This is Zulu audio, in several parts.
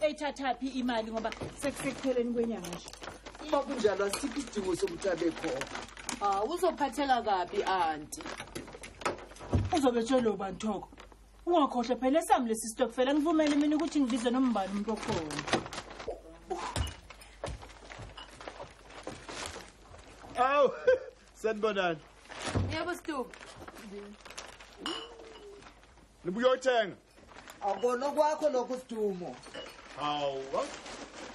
ethathaphi imali ngoba sekusekupheleni kwenyanga nje uma kunjalo asikho isidingo sokuthi abekhona hawu ah, uzophatheka kabi anti uzobe tshelwe ubani thoko ungakhohlwe phela esami lesi sitokufela ngivumele mina ukuthi ngibize nombani umuntu okhona awu sanibonani yebo situku nibuyothenga awukona kwakho lokho sidumo hawu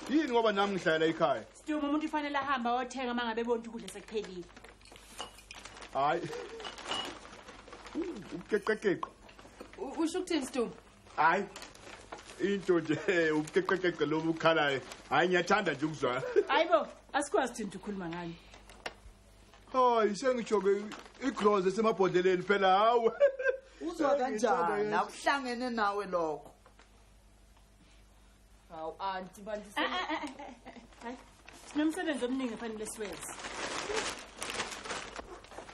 yini ngoba nami ngihlalela ikhaya sidumo umuntu ufanele ahambe ayothenga uma ngabe bonke ukudla sekuphelile hayi ubukeqekeqe usho ukuthini sidumo hayi into nje eh, ubukeqekeqe lobu ukhalayo hayi ngiyathanda nje ukuzwa hayi bo asikwazi thina ukukhuluma ngani hayi sengijoke igroz esemabhodleleni phela hawe uzwa kanjani akuhlangene nawe lokho hawu anti bantu eh, eh, eh, hayi sinomsebenzi omningi efanele siwenze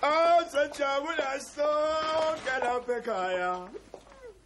awu ah, sanjabula sonke lapha ekhaya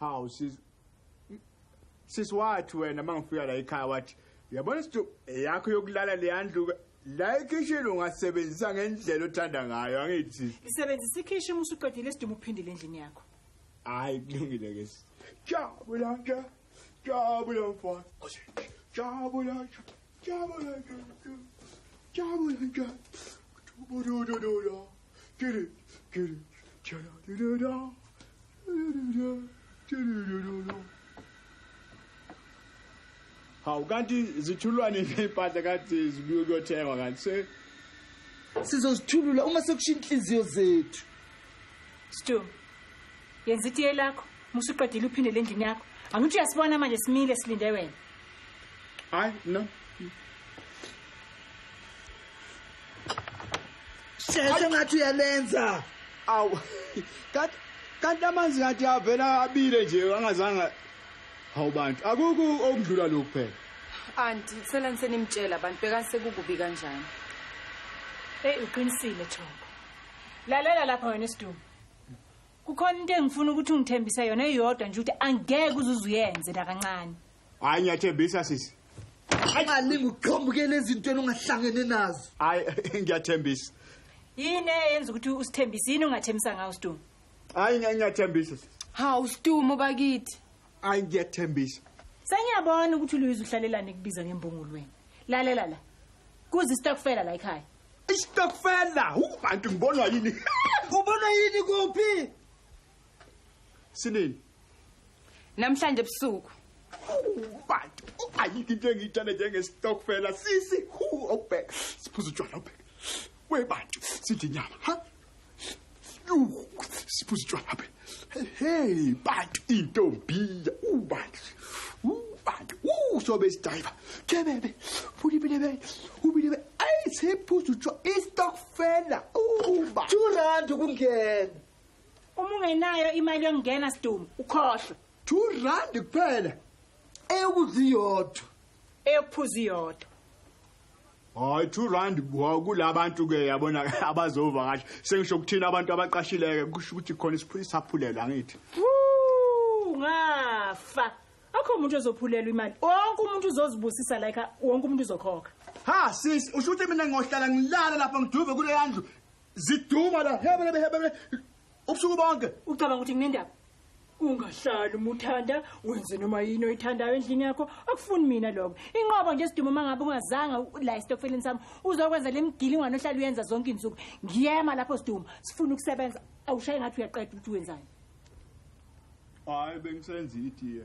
Hawu sis Sis wathi wena mangifika la ekhaya wathi yabona sidu yakho yokulala leyandluka la ekhishini ungasebenzisa ngendlela othanda ngayo angithi sis Isebenzisa ikhishi uma usuqedile isidumo uphindile endlini yakho. Hayi kulungile ke sis. Jabula nje. Jabula mfana. Jabula nje. hawu kanti zithulwa nini iy'mpahla kanti zibuye kuyothengwa kanti se sizozithulula uma sekushiya inhliziyo zethu stu yenza itiye lakho musuqedile uphindele endlini yakho angithi uyasibona manje simile silinde wena hayi no sheshe ngathi uyalenza awu kanti kanti amanzi ngathi avela abile nje angazanga hawu bantu akukho okudlula lokhu phela anti kusela nisenimtshela abantu bekani sekukubi kanjani eyi uqinisile thoko lalela lapha wena isidumo kukhona into engifuna ukuthi ungithembise yona eyodwa nje ukuthi angeke uzuze uyenze nakancane hayi ngiyathembisa sisi ungalingi uqhambukele ezintweni ungahlangene nazo hayi ngiyathembisa yini eyenza ukuthi usithembise yini ungathembisa ngawo stu hayi ngiyathembisa sisi hawu stu mobakithi hayi ngiyathembisa sengiyabona ukuthi uluyizwe uhlalelane kubiza ngembungulweni lalela la kuze isitokufela la ekhaya Isitokfela, ubantu ngibonwa yini? Ubona yini kuphi? Sinini? Namhlanje ebusuku. Ubantu, ayikho into engiyithanda njengesitokfela sisi. Hu, awubheka. Siphuza utshwala ubheka. Webantu, sidla inyama, ha? siphuza utshwala habe hey bantu intombiya ubantu ubantu usobe isidayiva kebebe fulibilebe ubilebe ayi siphuza utshwala istokfela uba two rand ukungena uma ungenayo imali yokungena sidumo ukhohlwe two rand kuphela eyokudla iyodwa eyokuphuza iyodwa Hayi 2 rand kulabantu ke yabona abazova kahle. Sengisho ukuthina abantu abaqashileke kusho ukuthi khona isiphuli saphulelwa ngithi. Ngafa. Akho umuntu ozophulelwa imali. Wonke umuntu uzozibusisa like wonke umuntu uzokhokha. Ha sis usho ukuthi mina ngohlala ngilala lapha ngiduve kule yandlu. Ziduma la hebele hebele ubusuku bonke ucabanga ukuthi nginendaba ungahlali uma uthanda wenze noma yini oyithandayo endlini yakho akufuni mina lokho inqobo nje siduma uma ngabe ungazanga la esitokfeleni sami uzokwenza le mgilingwane ohlala uyenza zonke izinsuku ngiyema lapho siduma sifuna ukusebenza awushaye ngathi uyaqeda ukuthi wenzani hayi bengisenza itiye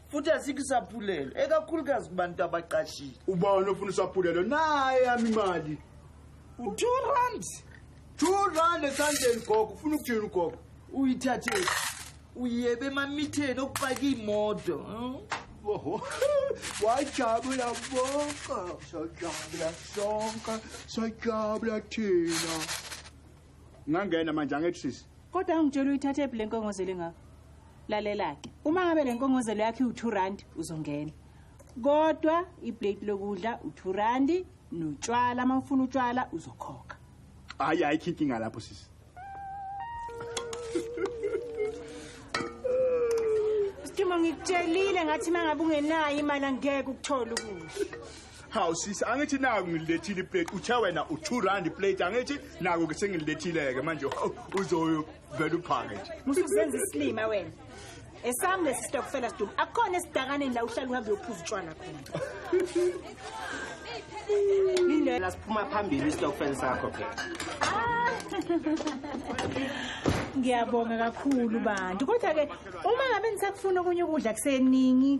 futhi asikho isaphulelo ekakhulukazi kubantu abaqashile ubani ofuna isaphulelo naye yami imali u-two rand two rand esandleni gogo ufuna ukuthini ugogo uyithathele uyebe emamitheni okupaka iy'moto oho wajabula bonke sajabula sonke sajabula thina Ngangena manje angithi sisi. Kodwa angitshela uyithathe phi lenkongozelo engaka. Lalela ke. Uma ngabe lenkongozelo yakhe u2 rand uzongena. Kodwa iplate lokudla u2 rand notshwala uma ufuna utshwala uzokhokha. Hayi hayi inkinga lapho sisi. Sithuma ngikutshelile ngathi mangabe ungenayo imali angeke ukuthole ukudla. hawu sisi angithi naku ngililethile iplate uthe wena u-two rand iplate angithi naku ke sengililethile-ke manje uzoyovela uphake nje musuzenza isilima wena esami lesi sitokufela sidumu akukhona esidakaneni la uhlala uhambe uyophuza utshwala khona indlela siphuma phambili isitokufeni sakho phela ngiyabonga kakhulu bantu kodwa-ke uma ngabe nisakufuna okunye ukudla kuseningi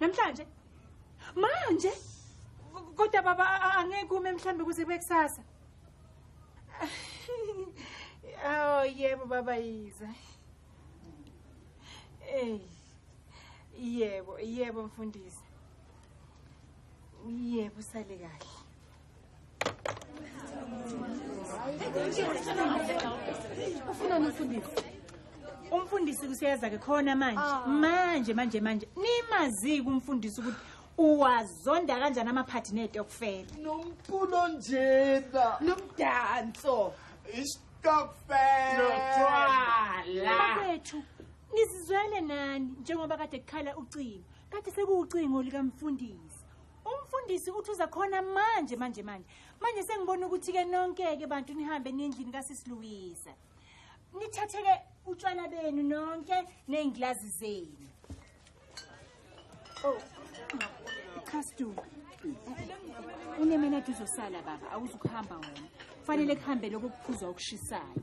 namhlanje manje kodwa baba angeke ume mhlawumbe kuze kube kusasa oh yebo baba yiza ey yebo yebo mfundisi yebo sale kahle ufuna umfundisi umfundisi kusiyeza ke khona manje ah. manje manje manje nimaziki umfundisi ukuthi uwazonda kanjani amaphathi netokufela nomculo njena nomdanso istokfelaethu nizizwele nani njengoba kade kukhala ucingo kade sekuwucingo likamfundisi umfundisi uthi uza khona manje manje manje manje sengibona ukuthi-ke nonke-ke bantu nihambe nendlini kasisiluwisa nithathe-ke utshwala benu nonke ney'ngilazi zenu oh, castu unemenade uzosala baba awuzukuhamba wona kufanele kuhambe lokho kuphuza okushisayo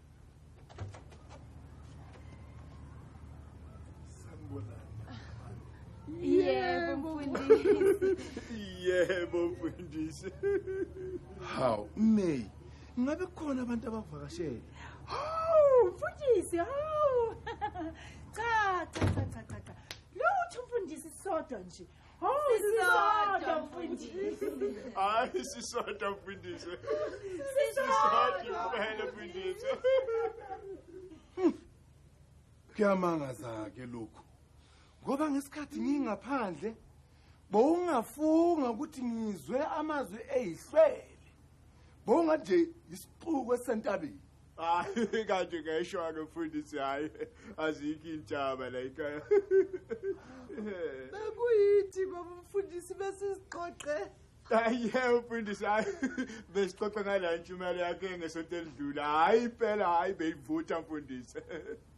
Yebo mfundisi. Yebo mfundisi. Haw, May. Ngabe khona abantu abavakashele. Haw, mfundisi, haw. Cha, cha, cha, cha, cha. Lutho mfundisi sodwa nje. Oh, sisodwa mfundisi. Hayi sisodwa mfundisi. Sisodwa kuphela mfundisi. Kuyamangaza ke lokhu. Ngoba ngesikhathi ngingaphandle bowungafunga ukuthi ngizwe amazwi eyihlwele. Bowungaje isixuku esentabeni. hayi kanti ngeshwa-ke mfundisi hhayi azikho intshaba la ikhaya bekuyithi ngoba umfundisi besizixoxe aye mfundisi hayi besixoxe ngala ntshumayelo yakhe ngesonto elidlula hhayi impela hhayi beyivutha mfundisi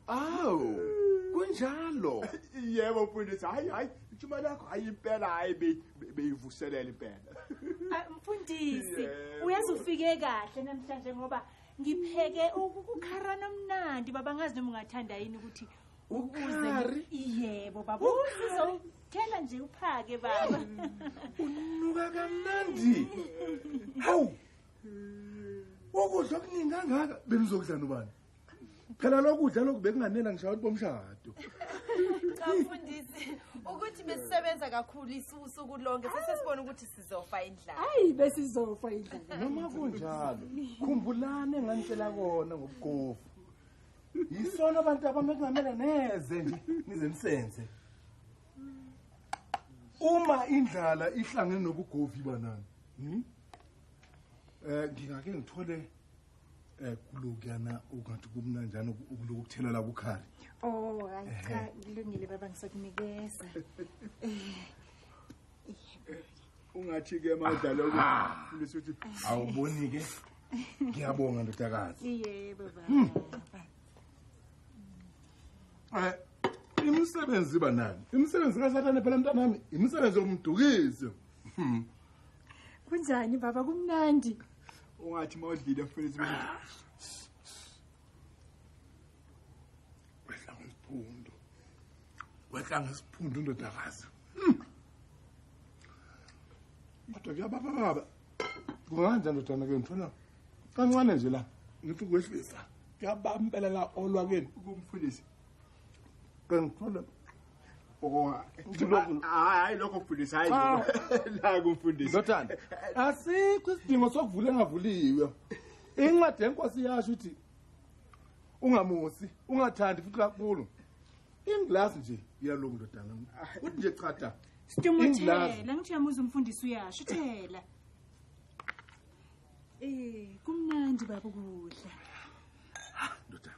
awu kunjalo yebo mfundisi hayi hayi ijuma lakho hayi impela hayi be- be- beyivuselela impela Ah, mfundisi Yebo. uyazi ufike kahle namhlanje ngoba ngipheke ukukharana omnandi baba ngazi noma ungathanda yini ukuthi Ukhari? yebo baba uzothela nje uphake baba unuka kamnandi hawu ukudla okuningi kangaka benizokudla nobani phela lokudla lokhu bekunganela ngishawa ukuthi bomshado cha mfundisi ukuthi besisebenza kakhulu isuku lonke sesesibona ukuthi sizofa indlala hayi besizofa indlala noma kunjalo khumbulani enganitshela kona ngobugovu yisona abantu abami kungamele neze nje nize nisenze uma indlala ihlangene nobugovi banani um ngingake ngithole Eh kulokuyana ukanti kumnanjani ukuloku kuthelela kukhari. Oh, hayi cha kulungile baba ngisakunikeza. Ungathi ke madlalo kulisa ukuthi awuboni ke. Ngiyabonga ndodakazi. Yebo baba. Hmm. Eh imisebenzi iba nani? Imisebenzi kaSathane phela mntanami, imisebenzi yomdukiso. Hmm. Kunjani baba kumnandi? ungathi uma udlile futhi kwehla ngesiphundu kwehla ngesiphundu indodakazi hmm. kodwa kuyababa baba kunganjani ndodana ke ngithona kancane nje la ngithi kwehlisa kuyabambelela olwakeni kumfundisi kengithole hayi lokho mfundisi hayi naku mfundisi ndodana asikho isidingo sokuvula engavuliwe incwadi yenkosi yasho ukuthi ungamusi ungathandi futhi kakhulu ingilasi nje iyalungu ndodana kuthi nje chata sidumothela ngithiyamuza umfundisi uyasho uthela um kumnandi baba ukudla ndodana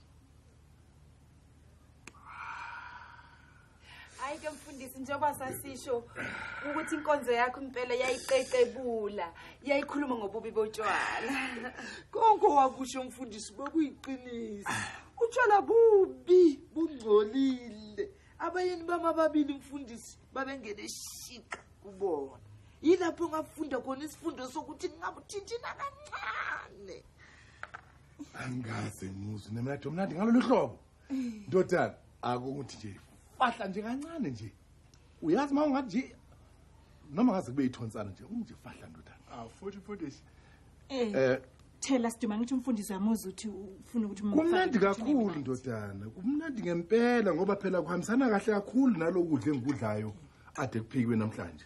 hayi ke mfundisi njengoba sasisho ukuthi inkonzo yakho impela yayiqeqebula yayikhuluma ngobubi botshwala konke wakusho mfundisi bekuyiqiniso utshwala bubi bungcolile abayeni bami ababili mfundisi babengene shiqa kubona yilapho ngafunda khona isifundo sokuthi ngingabuthinthina kancane angikaze ngizwe nemnadi omnandi ngalolu hlobo ndodana akunguthi nje fahla nje kancane nje uyazi uma ungathi nje noma ngaze kube yithonsana nje unje fahla ndodana ah futhi futhi eh, eh thela siduma ngithi umfundisi uyamuza uthi ufuna ukuthi kumnandi kakhulu ndodana kumnandi ngempela ngoba phela kuhambisana kahle kakhulu nalokudla engikudlayo ade kuphikwe namhlanje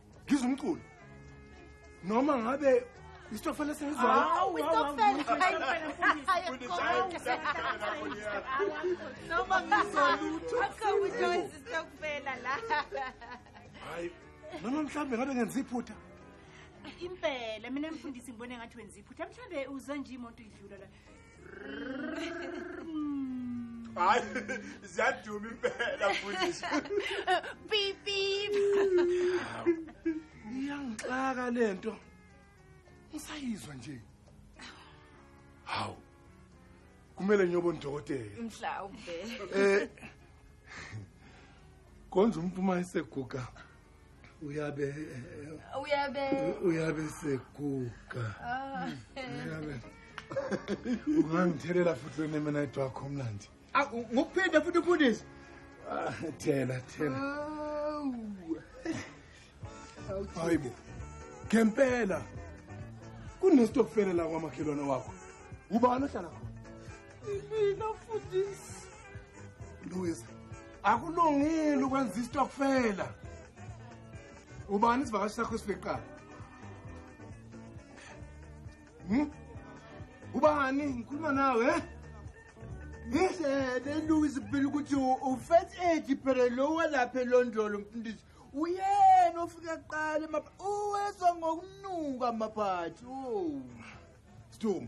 ngizwa umculo noma ngabe isitokfela sengizwayo Hawu, isitokfela. Noma ngizolutho. Akho uJoyce sitokufela la. hayi noma mhlawumbe ngabe ngenza iphutha Impela mina mfundisi ngibone ngathi wenza iphutha mhlambe uzwa nje imoto idlula la. hayi ziyaduma impela futhi beep beep iyangixaka lento ngisayizwa nje hawu kumele ngiyobona udokotela mhlawumbe eh konje umphuma iseguga uyabe uyabe uyabe seguga ah. uyabe ungangithelela futhi lona mina edwakho mlandi ngokuphinde futhi ufundisi ah, thela thela hayibo ngempela kunestokufela la kwamakhelwane wakho ubani ohlala khona Mina mfundisi. Lungisa. Akulungile ukwenza istokfela. Ubani isivakashi sakho esifiqayo? Hmm? Ubani ngikhuluma nawe eh? Ngizele Louis phela ukuthi ufet age phela lo walapha elondolo mfundisi. Uyena ofika kuqala mapha. Uwezwa ngokunuka maphathi. Oh. Stum.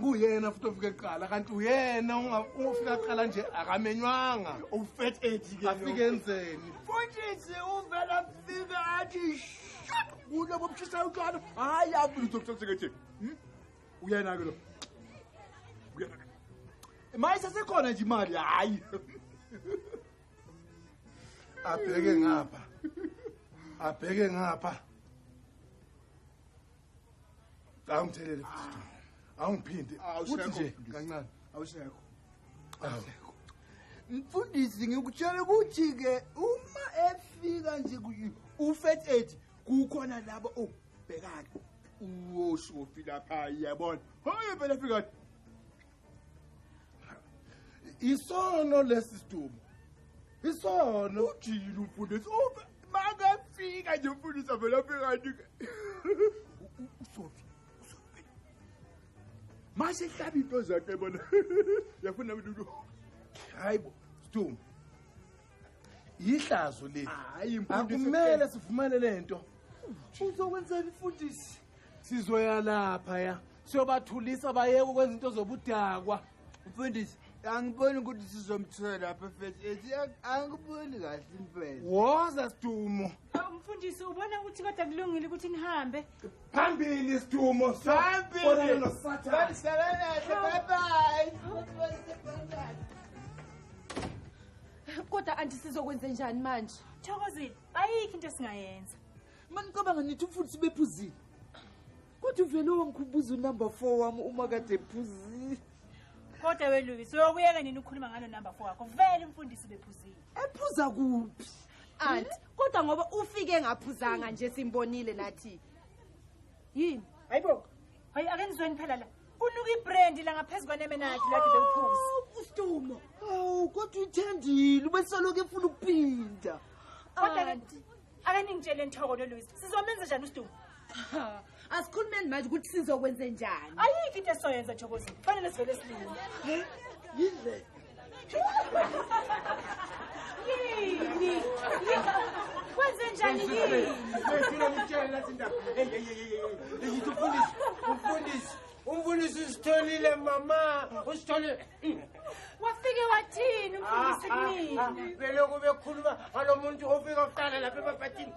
kuyena futhi ofike kuqala kanti uyena ungafika kuqala nje akamenywanga ufet ethi ke afike enzeni futhi nje uvela fika athi kulo bobushisa utwana hayi abulutho kusesekethi hmm? uyena ke lo uyena maye sesekhona nje imali hayi abheke ngapha abheke ngapha awungithelele futhi awungiphindi uthi nje kancane awusekho awusekho mfundisi ngikutshela ukuthi ke uma efika nje ufet aid kukhona labo obhekana uwoshofi lapha yabona hoye phela fika isono lesi sidumo isono ujile umfundisi uma makafika nje umfundisi avela phekani-ke usofi mase ihlaba into zakhe bona yafuna mntu hayi bo sidumo yihlazo leli akumele sivumane le nto uzokwenzela imfundisi sizoya lapha ya siyobathulisa bayeke ukwenza into zobudakwa mfundisi angiboni ukuthi sizomthola lapha efesi ethi angiboni kahle impela woza sidumo mfundisi ubona ukuthi kodwa kulungile ukuthi nihambe phambili sidumo phambili nosathane bye bye kodwa andisizokwenze njani manje thokozile ayikho into esingayenza Mani ngicabanga nithi umfundisi bephuzile. Kodwa uvele wangikhumbuza unumber 4 wami uma kade ephuzile. Kodwa weLuis, uyokuyeka nini ukukhuluma ngalo number 4 wakho? Vele umfundisi bephuzile. Ephuza kuphi? Aunt, kodwa ngoba ufike ngaphuzanga nje simbonile nathi. Yini? Hayibo. Hayi ake nizweni phela la. Unuka ibrand la ngaphezulu kwaneme nakhe la de bephuza. Ustumo. Awu kodwa uthandile ubesoloke efuna ukuphinda. Kodwa kanti akaningitshele nthoko noluisa sizomenza njani usidumo asikhulumeni manje ukuthi sizokwenze njani ayikho into esizoyenza thokozi kufanele sivele silungu yindlela yini kwenze njani yini sifuna umtshele lathi indaba eyithi umfundisi umfundisi umfundisi usitholile mama usitholile wafike wathini umfundisi ah, ah, kunini ah, beloku bekhuluma ngalo muntu ofika kuqala lapha ebabhathini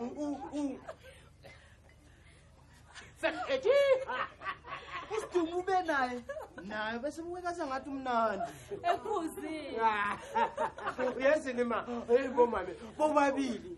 sekethi usidumo ube naye naye bese mukekaza ngathi umnandi ephuzile uyezini ma eyibomame bobabili